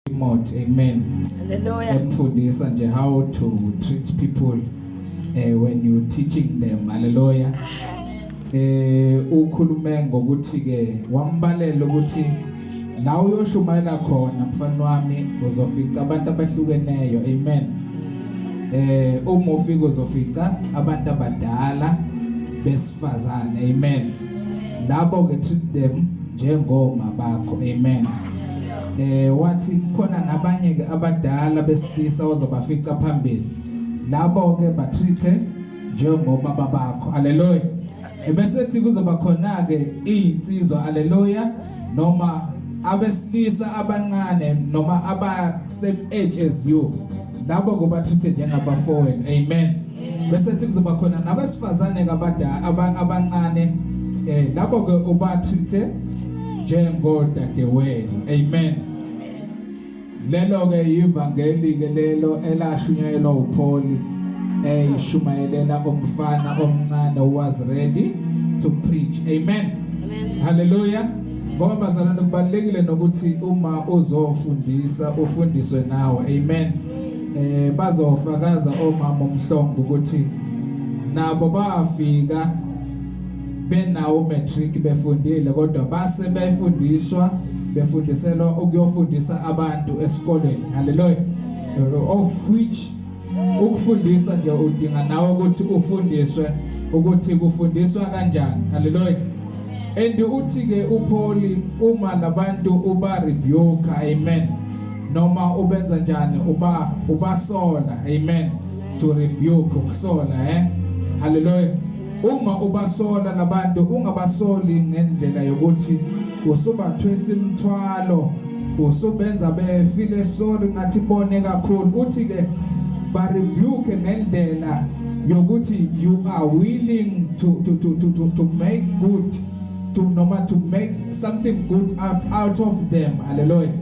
Timothy amen haleluya emfundisa nje how to treat people uh, when you teaching them haleluya eh ukhulume ngokuthi ke wambalela ukuthi la uyoshumayela khona mfana wami uzofica abantu abahlukeneyo amen eh uma ufika uzofica abantu abadala bes Sifazane amen. Labo ke treat them njengoma bakho amen. Eh wathi khona nabanye ke abadala besilisa ozobafica phambili. Labo ke ba treat njengoma babakho. Hallelujah. Ebese thi kuzoba khona ke izinsizwa hallelujah noma abesilisa abancane noma aba same age as you labo ngobathathe njengabafowenu amen bese kuthi kuzoba khona nabesifazane kabadala abancane eh labo ke ubathathe njengodadewenu amen lelo ke ivangeli ke lelo elashunyayelwa uPauli eh ishumayelela umfana omncane was ready to preach amen, amen. hallelujah Ngoba bazalwane kubalekile nokuthi uma uzofundisa ufundiswe nawe. Amen. Eh bazofakaza omama umhlongo ukuthi nabo bafika benawo matric befundile kodwa base befundiswa befundiselwa ukuyofundisa abantu esikoleni. Hallelujah. Of which ukufundisa nje udinga nawe ukuthi ufundiswe ukuthi kufundiswa kanjani haleluya and uthi ke uPaul uma labantu uba rebuke amen noma ubenza njani uba ubasola amen to rebuke ukusola eh haleluya Uma ubasola labantu ungabasoli ngendlela yokuthi usubathwesa imthwalo usubenza befile sorry ngathi bone kakhulu uthi ke ba rebuke ngendlela yokuthi you are willing to to to to to, to make good to noma to make something good out, out of them hallelujah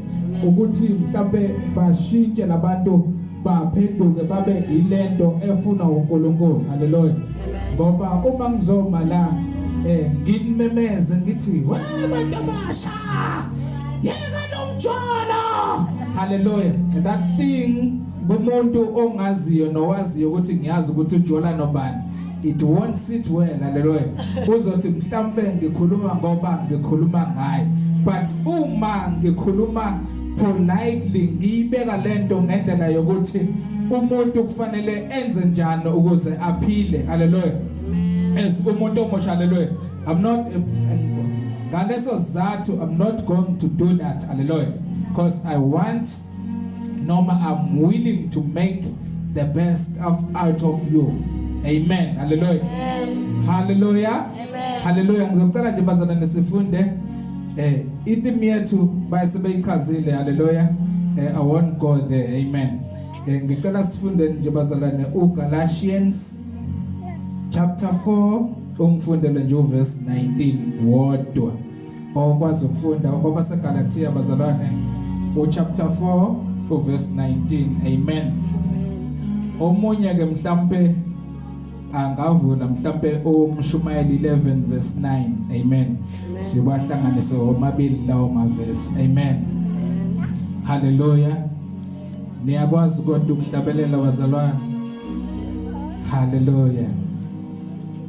ukuthi mhlawumbe bashintshe labantu baphenduke babe yilento efuna uNkulunkulu haleluya ngoba uma ngizoma la eh ngimemeze ngithi we bantu basha yeka lomjolo haleluya that thing kumuntu ongaziyo nowaziyo ukuthi ngiyazi ukuthi ujola nobani it won't sit well haleluya uzothi mhlambe ngikhuluma ngoba ngikhuluma ngaye but uma ngikhuluma politely ngiyibeka lento ngendlela yokuthi umuntu kufanele enze njani ukuze aphile haleluya as umuntu omusha haleluya i'm not ngaleso sizathu i'm not going to do that haleluya because i want noma I'm willing to make the best of out of you amen hallelujah amen. hallelujah amen. hallelujah ngizocela nje bazana nisifunde eh itim yethu bayisebeyichazile hallelujah eh, i won't go there amen eh, ngicela sifunde nje bazalwane uGalatians chapter 4 ungifundele nje uverse 19 wodwa okwazi ukufunda okoba seGalatia bazalwane uchapter 4 uverse 19 amen omunye ke mhlambe angavula mhlambe umshumayeli 11 verse 9 amen sibahlanganise omabili lawo maverse amen haleluya niyakwazi kodwa ukuhlabelela bazalwane haleluya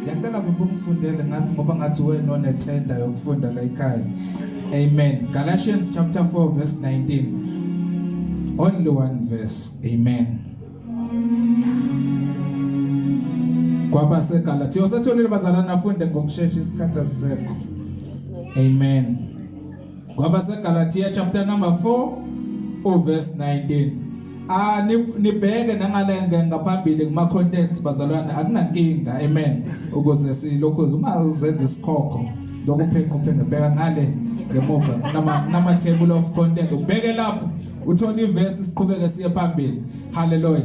Ngiyacela baba ungifundele ngathi ngoba ngathi wena onethenda yokufunda la ekhaya. Amen. Galatians chapter 4 verse 19. Only one verse. Amen. Kwaba seGalatia. Usatholile bazalwana afunde ngokusheshsha isikhathi asisekho. Amen. KwabaseGalatia chapter number 4 uverse 19 ah nibheke nangalenge ngaphambili kuma contents bazalwane akunankinga amen ukuze silokhu ungazenza isikhokho lokuphenqa uphenge bheka ngale ngemuva nama nama table of content ubheke lapho uthole iverse siqhubeke siye phambili hallelujah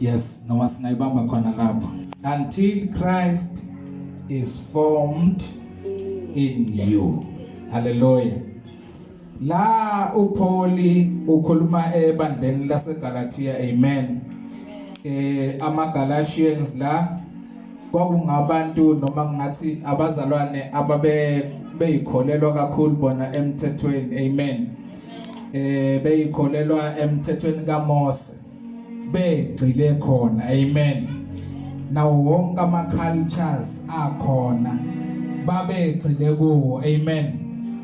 yes noma singayibamba khona lapho until Christ is formed in you haleluya la uPauli ukhuluma ebandleni laseGalatia amen eh amaGalatians la kwakungabantu noma ngathi abazalwane ababe beyikholelwa kakhulu bona emthethweni amen eh beyikholelwa emthethweni kaMose begcile khona amen nawo wonke ama cultures akhona babegcile kuwo amen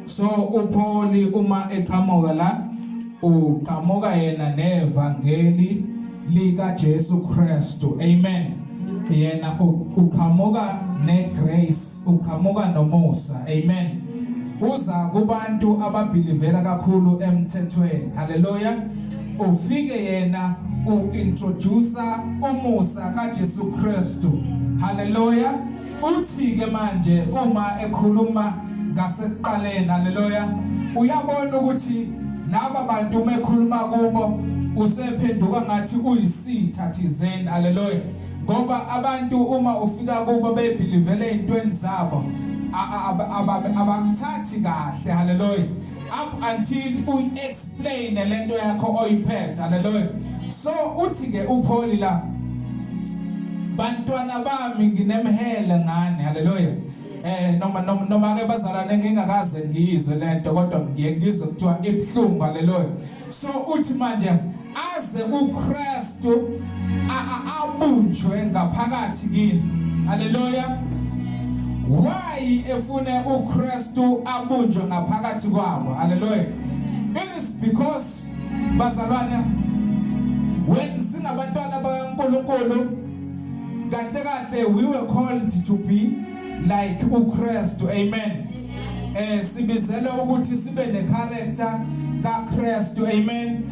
so uPauli uma eqhamuka la uqhamuka yena nevangeli lika Jesu Kristu amen yena uqhamuka ne grace uqhamuka nomusa amen uza kubantu ababhilivela kakhulu emthethweni haleluya ufike yena uintroduce umusa kaJesu Kristu haleluya uthi ke manje uma ekhuluma ngasekuqaleni haleluya uyabona ukuthi laba bantu uma ekhuluma kubo usephenduka ngathi uyisitha thizeni haleluya ngoba abantu uma ufika kubo bebhilivele ezintweni zabo abamthathi kahle haleluya up until uyi-explain lento yakho oyiphethe haleluya so uthi ke upholi la bantwana bami nginemhele ngani haleluya eh noma noma noma ke bazalwane ngingakaze ngiyizwe lento kodwa ngiye ngizwe kuthiwa ibhlungu haleluya so uthi manje aze uKristu abunjwe ngaphakathi kini haleluya why efune uKristu abunjwe ngaphakathi kwabo haleluya it is because bazalwana when singabantwana bakaNkulunkulu kahle kahle we were called to be like uKristu amen eh sibizele ukuthi sibe ne character kaKristu amen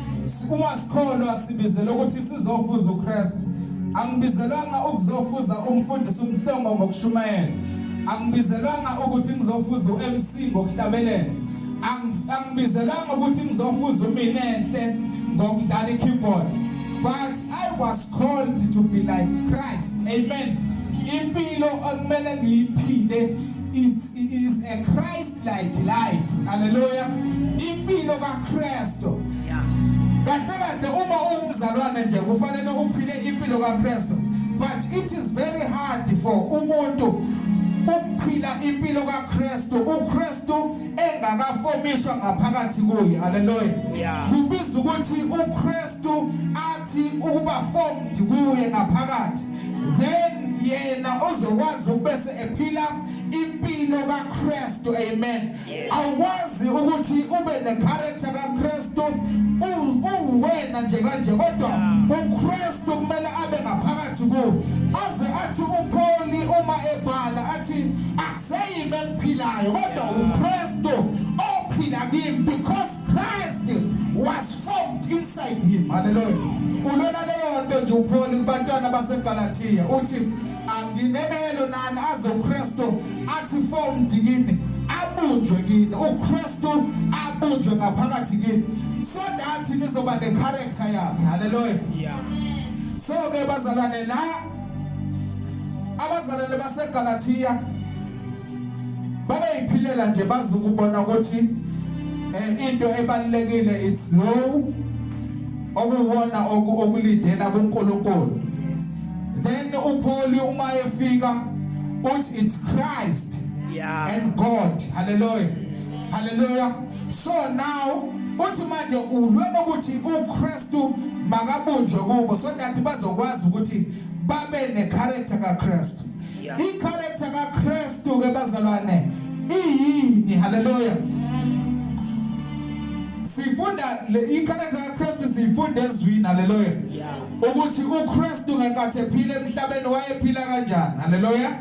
uma sikholwa sibizele ukuthi sizofuza uKristu angibizelwanga ukuzofuza umfundisi umhlongo ngokushumayela angibizelwanga ukuthi ngizofuza uMC ngokuhlabelela angibizelwanga ukuthi ngizofuza umina enhle ngokudlala ikeyboard but i was called to be like Christ amen impilo okumele ngiyiphile It's, it is a Christ-like life. Hallelujah. Impilo kaKristu. Yeah. Kahle kahle uma ungumzalwane nje kufanele uphile impilo kaKristu. But it is very hard for umuntu ukuphila impilo kaKristu uKristu engakafomiswa ngaphakathi kuye haleluya kubiza ukuthi uKristu Thi ukuba formed kuye ngaphakathi then yena ozokwazi ukubese ephila impilo kaKristu amen awukwazi ukuthi ube necharacter kaKristu uwena nje kanje kodwa uKristu kumele abe ngaphakathi kuwe aze athi uPauli uma ebhala athi akuseyimi engiphilayo kodwa uKristu ophila kimi because Christ was formed inside him. Hallelujah. Ulona leyo nto nje uPaul kubantwana baseGalatia uthi anginemelo nani azoKristu athi formed kini abunjwe kini uKristu abunjwe ngaphakathi kini so that nizoba ne character yakhe. Hallelujah. Yeah. So ke bazalwane la abazalwane baseGalatia bayayiphilela nje bazi ukubona ukuthi eh, into ebalekile it's low okuwona okulidela kuNkulunkulu then uPaul uma efika uthi it's Christ yeah. and God hallelujah hallelujah so now uthi manje ulwe ukuthi uKristu makabunjwe kubo so that bazokwazi ukuthi babe necharacter kaKristu Icharacter kaKristu ke bazalwane iyini? Hallelujah. Sifunda le icharacter kaKristu sifunda ezwini hallelujah. Ukuthi uKristu ngenkathi ephila emhlabeni wayephila kanjani? Hallelujah.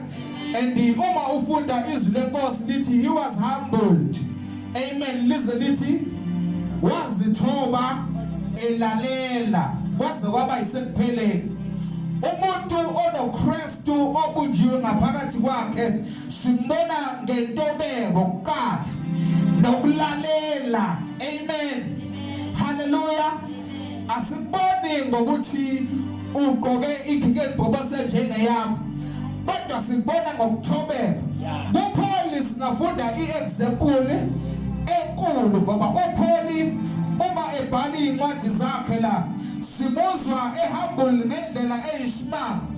And uma ufunda izwi lenkosi lithi he was humbled. Amen. Lize lithi wazithoba elalela kwaze kwaba isekupheleni umuntu onoChrist Kristu obunjiwe ngaphakathi kwakhe simbona ngentobeko kuqala nokulalela amen haleluya asiboni ngokuthi ugqoke ikhike libhobose njengeyami kodwa sibona ngokuthobeka kupholi singafunda iexample enkulu ngoba upholi uma ebhala incwadi zakhe la simuzwa ehambule ngendlela eyisimanga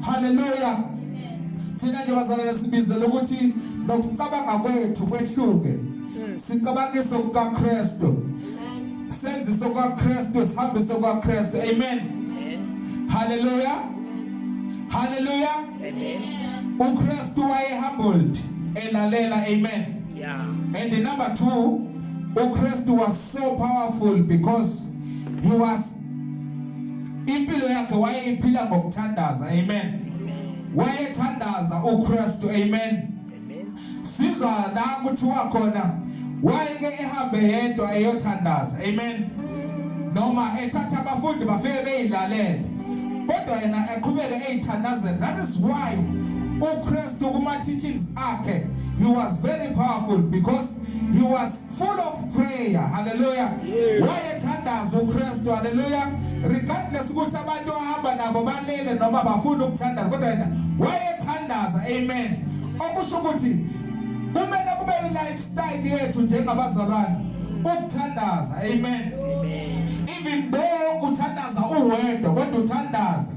haleluya thina nje bazalwane sibizele ukuthi nokucabanga kwethu kwehluke hmm. sicabangise kukaKristu senzise kukaKristu sihambise kukaKristu amen haleluya haleluya amen uKristu waye humbled elalela amen yeah and number 2 uKristu was so powerful because he was Impilo yakhe wayeyiphila ngokuthandaza. Amen. Wayethandaza uKristu. Amen. Sizwa la kuthiwa khona wayeke ehambe yedwa eyothandaza. Amen. Noma ethatha abafundi bafike beyilalele. Kodwa yena eqhubeke eyithandazela. That is why uKristu kuma teachings akhe he was very powerful because he was full of prayer haleluya wayethandaza uKristu haleluya regardless ukuthi abantu ahamba nabo balele noma bafuna ukuthandaza kodwa yena wayethandaza amen okusho ukuthi kumele kube i-lifestyle yethu njengabazalwane ukuthandaza amen even though uthandaza uwedwa kodwa uthandaza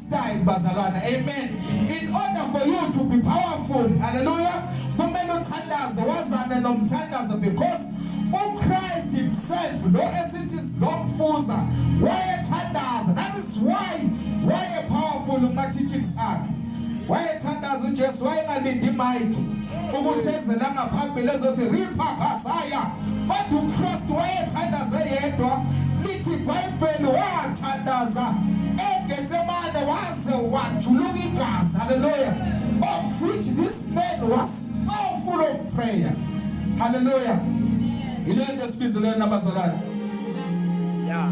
style bazalwana amen in order for you to be powerful hallelujah kumele uthandaze wazane nomthandazo because uChrist himself lo esithi sizomfuza wayethandaza that is why waye powerful kuma teachings akhe wayethandaza uJesu wayengalindi mic ukuthi ezela ngaphambili ezothi ripha kasaya kodwa uChrist wayethandaze yedwa lithi Beni wathandaza eGetsemane waze wajuluka igazi. Hallelujah. Of which this man was so full of prayer. Hallelujah. Ilento esibizelwe nabazalwane. Yeah.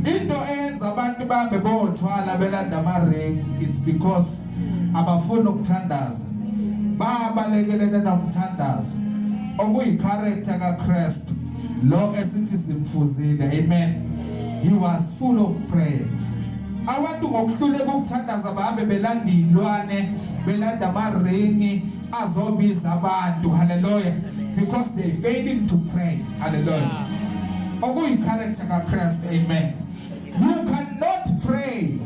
Into eyenza abantu bambe bothwala belanda ama ring it's because abafuni ukuthandaza babalekelene nomthandazo okuyicharacter kaKristu lo esithi simfuzile amen he was full of prayer abantu ngokuhluleka ukuthandaza bahambe belanda izilwane belanda amaringi azobiza abantu haleluya because they failing to pray haleluya okuyi character kaKristu amen You cannot pray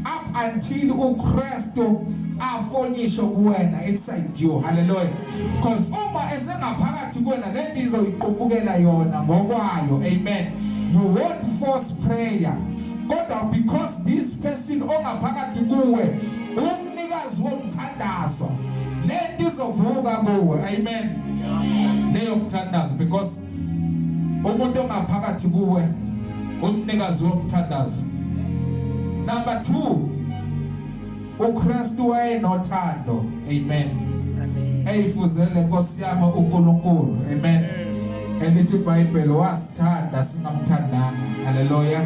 up until uKristu afonyisho kuwena inside you hallelujah because uma esengaphakathi kuwena lento izoyiqupukela yona ngokwayo amen you won't force prayer kodwa because this person ongaphakathi kuwe umnikazi womthandazo lento izovuka kuwe amen leyo mthandazo because umuntu ongaphakathi kuwe umnikazi womthandazo number 2 uKristu wayenothando amen amen eyifuzele Nkosi yami uNkulunkulu amen elithi iBhayibheli wasithanda singamthandanga haleluya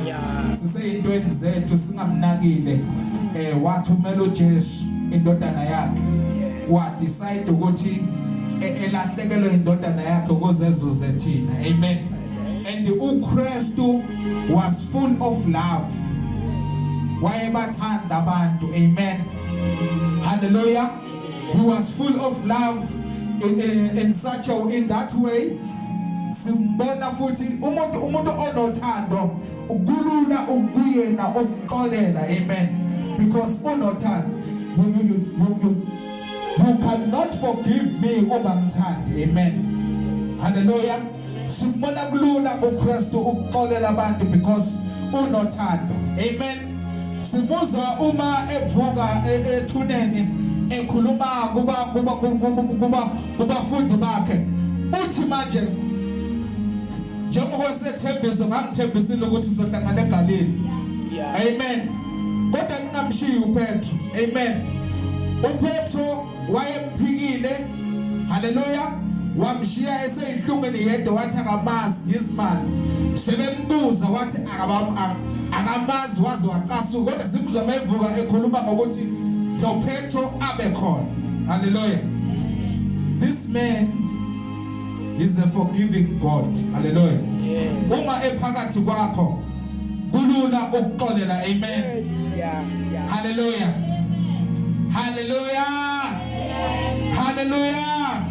siseyintweni zethu singamnakile eh wathumela uJesu indodana yakhe wadecide ukuthi e, elahlekelwe indodana yakhe ukuze ezuze thina amen and uKristu was full of love wayebathanda abantu amen hallelujah he was full of love in, in, in such a in that way simbona futhi umuntu umuntu onothando Kulula ukuyena okuxolela amen because unothando you, you, you, you, you, you cannot forgive me ungamthandi amen haleluya simbona kulula uKristu ukuxolela abantu because unothando amen simuzwa uma evuka e-, ethuneni ekhuluma kuba kuba kuba kubafundi bakhe uthi manje njengoba sethembiso ngangithembisile ukuthi sizohlangana egalile amen kodwa ningamshiyi upetro amen upetro wayemphikile haleluya wamshiya eseyinhlungwini yedwa wathi akamazi this man sebembuza wathi akamazi waze wacasuka kodwa simuzwa mevuka ekhuluma ngokuthi nopetro abe khona haleluya this man He's a forgiving God. Hallelujah. Uma ephakathi kwakho kulula ukuxolela. Amen. Hallelujah. Hallelujah. Hallelujah.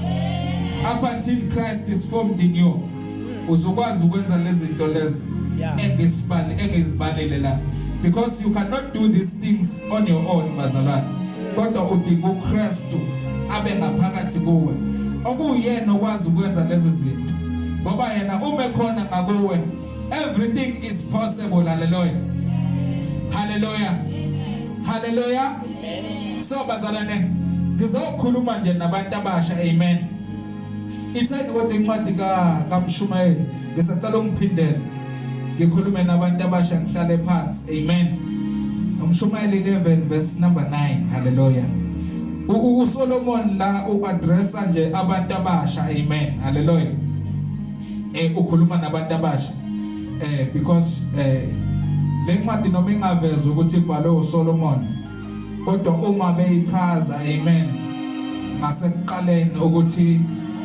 Up until Christ is formed in you. Hmm. Uzokwazi ukwenza lezi zinto lezi engesibali engezibalele la because you cannot do these things on your own bazalwane kodwa udinga uKristu abe ngaphakathi kuwe okuyena okwazi ukwenza lezi zinto ngoba yena uma ekhona ngakuwe everything is possible haleluya haleluya haleluya so bazalwane ngizokhuluma nje nabantu abasha amen Itheni kodwa incwadi ka kaMshumayeli ngisacela ungiphindele ngikhulume nabantu abasha ngihlale phansi amen uMshumayeli 11 verse number 9 haleluya uSolomon la uaddressa nje abantu abasha amen haleluya eh ukhuluma nabantu abasha eh because eh lencwadi noma ingavezwa ukuthi ibhalwe uSolomon kodwa uma beyichaza amen ngasekuqaleni ukuthi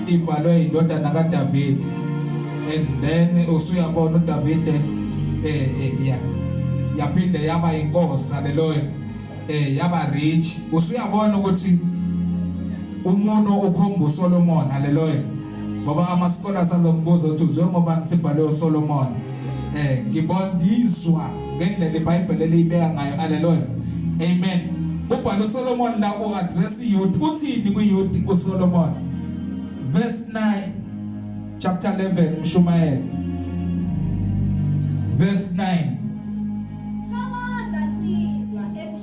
ibhalwe indodana kaDavid and then usuyabona uDavid eh, eh yeah yaphinde yaba inkosi haleluya eh yaba rich usuyabona ukuthi umuntu okhomba uSolomon haleluya ngoba amasikole asazombuza ukuthi uzwe ngoba sibhalwe uSolomon eh ngibondizwa ngendlela iBhayibheli eliyibeka ngayo haleluya amen kubhala uSolomon la u address youth uthini ku youth uSolomon verse 9 chapter 11 mshumayeli verse 9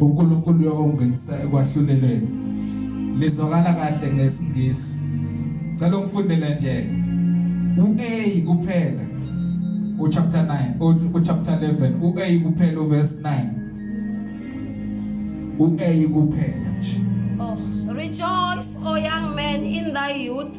uNkulunkulu uyokungenisa ekwahlulelweni lizwakala kahle ngesingisi cela ungifundele nje u-A kuphela uchapter 9 uchapter 11 u-A kuphela uverse 9 u-A kuphela nje oh, Rejoice, O young man, in thy youth,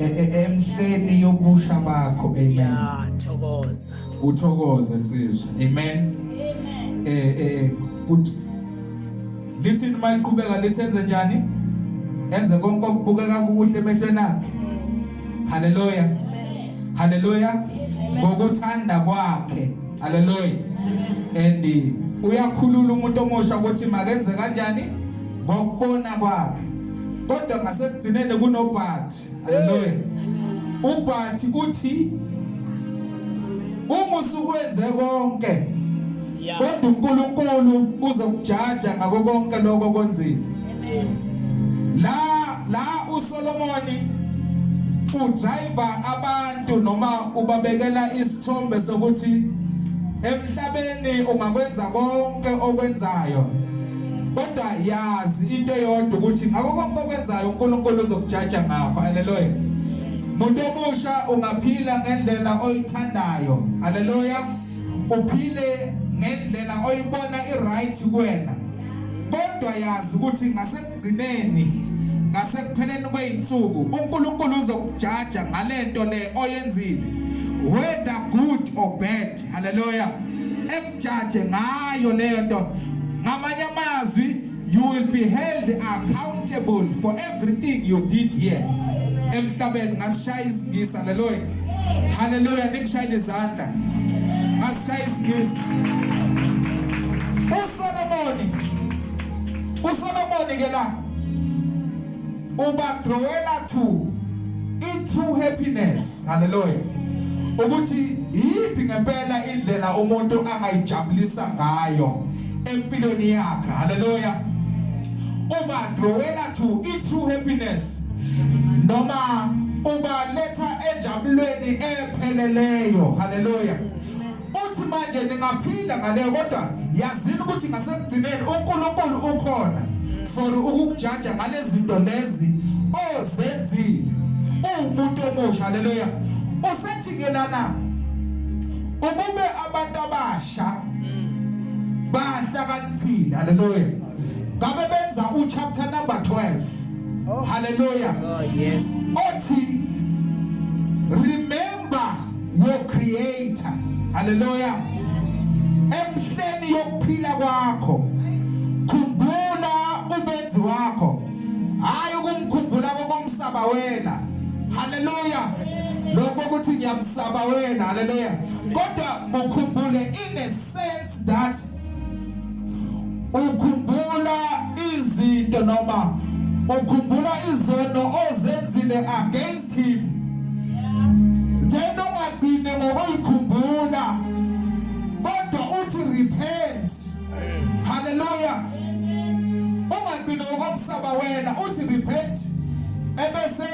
e, e, emhleni yobusha bakho amen yeah thokoza uthokoze nsizwa amen amen eh eh ukuthi lithi uma liqhubeka lithenze njani enze konke okubukeka kukuhle emehlweni akhe haleluya haleluya ngokuthanda kwakhe haleluya and uyakhulula umuntu omusha ukuthi makenze kanjani ngokubona kwakhe kodwa ngasekugcineni kunobhathi haleluya ubhathi uthi uma usukwenze konke kodwa uNkulunkulu uzokujaja ngakho konke lokho konzile la la uSolomoni udriver abantu noma ubabekela isithombe sokuthi emhlabeni ungakwenza konke okwenzayo kodwa yazi into eyodwa ukuthi ngakho konke okwenzayo uNkulunkulu uzokujaja ngakho haleluya muntu omusha ungaphila ngendlela oyithandayo haleluya uphile ngendlela oyibona iright kuwena kodwa yazi ukuthi ngasekugcineni ngasekupheleni kweyinsuku uNkulunkulu uzokujaja ngalento le oyenzile whether good or bad haleluya jaje ngayo leyo nto ngamanye amazwi you will be held accountable for everything you did here emhlabeni ngasishaya isingisa haleluya haleluya nikushayile izandla ngasishaya isingisa usolomoni usolomoni ke la ubadrowela two into happiness Haleluya. Ukuthi yiphi ngempela indlela umuntu angayijabulisa ngayo empilweni yakhe. Haleluya. Uba drawela to it true happiness. Noma uba letha enjabulweni epheleleyo. Haleluya. Uthi manje ningaphila ngaleyo kodwa yazini ukuthi ngasekugcineni uNkulunkulu ukhona for ukukujaja ngalezinto lezi ozenzile. Uwumuntu omusha haleluya. Usethi ke lana ukube abantu abasha bahlakaniphile haleluya. Ngabe benza u chapter number 12. Oh. Haleluya. Oh yes. Othi remember Ba wo creator. Hallelujah. Emhleni yokuphila kwakho. Khumbula ubenzi wakho. Hayi ukumkhumbula kokumsaba wena. Hallelujah. Lokho ukuthi ngiyamsaba wena. Hallelujah. Kodwa mukhumbule in a sense that ukhumbula izinto noma ukhumbula izono ozenzile against him then ungagcine ngokuyikhumbula kodwa uthi repent haleluya ungagcine ngokumsaba wena uthi repent ebese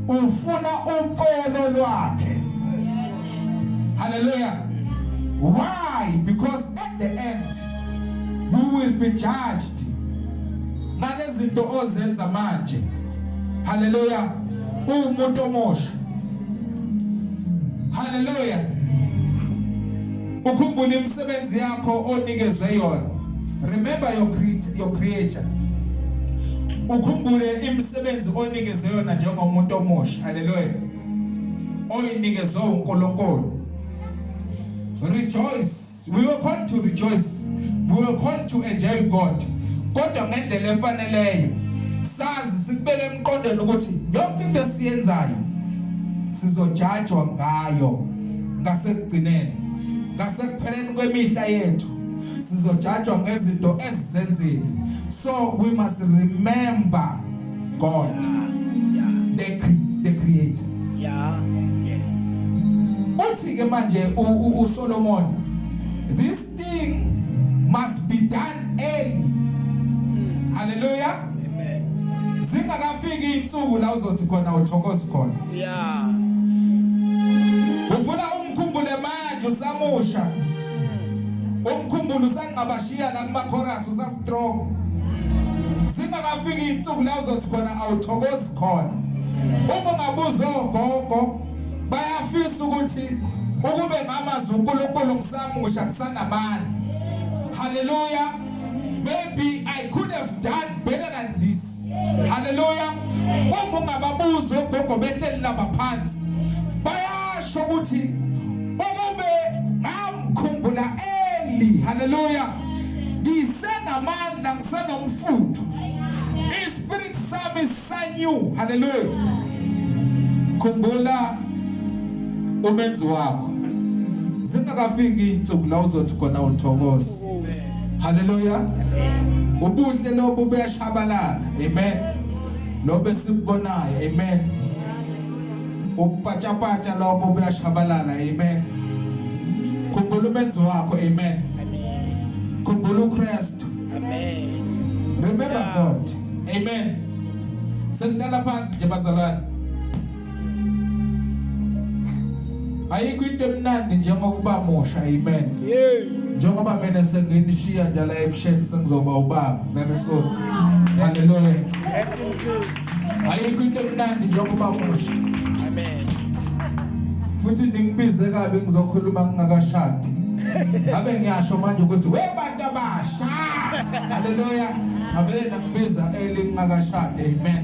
ufuna uxolo lwakhe Hallelujah. Why? Because at the end you will be judged. Nalezinto ozenza manje. Hallelujah. Umuntu omosha. Hallelujah. Ukhumbule imisebenzi yakho onikezwe yona. Remember your creator, your creator. Ukhumbule imisebenzi onikezwe yona njengomuntu omosha. Hallelujah. oyinikezwe uNkulunkulu rejoice we were called to rejoice we were called to enjoy God kodwa ngendlela efaneleyo sazi sikubeke emqondweni ukuthi yonke into esiyenzayo sizojajwa ngayo ngasekugcineni ngasekupheleni kwemihla yethu sizojajwa ngezinto ezizenzile so we must remember God. Yeah. Yeah. The, cre the creator. Yeah. Yes. Uthi ke manje u Solomon this thing must be done early. Mm. Hallelujah. Amen. Zingakafiki insuku la uzothi khona uthokoza khona. Yeah. Ufuna umkhumbule manje usamusha. Umkhumbulo usangqabashiya la kuma chorus usas strong singakafiki insuku la uzothi khona awuthokozi khona uma ungabuza ogogo bayafisa ukuthi ukube ngamazwi uNkulunkulu ngisamusha kusanamandla haleluya maybe i could have done better than this haleluya uma ungababuzi ogogo behleli laba phansi bayasho ukuthi ukube ngamkhumbula eli haleluya ngisenamandla ngisenomfutho ispirit sami sanyu haleluya khumbula umenzi wakho zingakafiki insuku la uzothi khona uthokoza Haleluya. Amen. Ubuhle lobu buyashabalala. Amen. Lobe sibubonayo. Amen. Ukupatshapata lobo buyashabalala. Amen. Khumbula umenzi wakho. Amen. Amen. Khumbula uKristu. Amen. Remember God. Amen. Sendlala phansi nje bazalwane. ayikho into emnandi njengokuba musha amen njengoba mina senginishiya nje la ebusheni sengizoba ubaba very soon haleluya ayikho into emnandi njengoba musha amen futhi ningibize kabi ngizokhuluma ngingakashadi ngabe ngiyasho manje ukuthi we bantu abasha haleluya ngavele nakubiza elingakashadi amen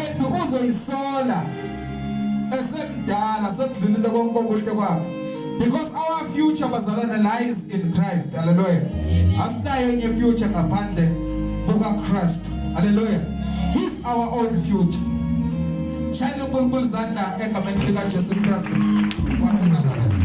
ethi uzoyisola esemdala sekudlulile konke okuhle kwakhe because our future bazalwane lies in Christ hallelujah asinayo enye future ngaphandle kuka Christ hallelujah he's our own future shayela uNkulunkulu izandla egameni lika Jesu Kristu waseNazaretha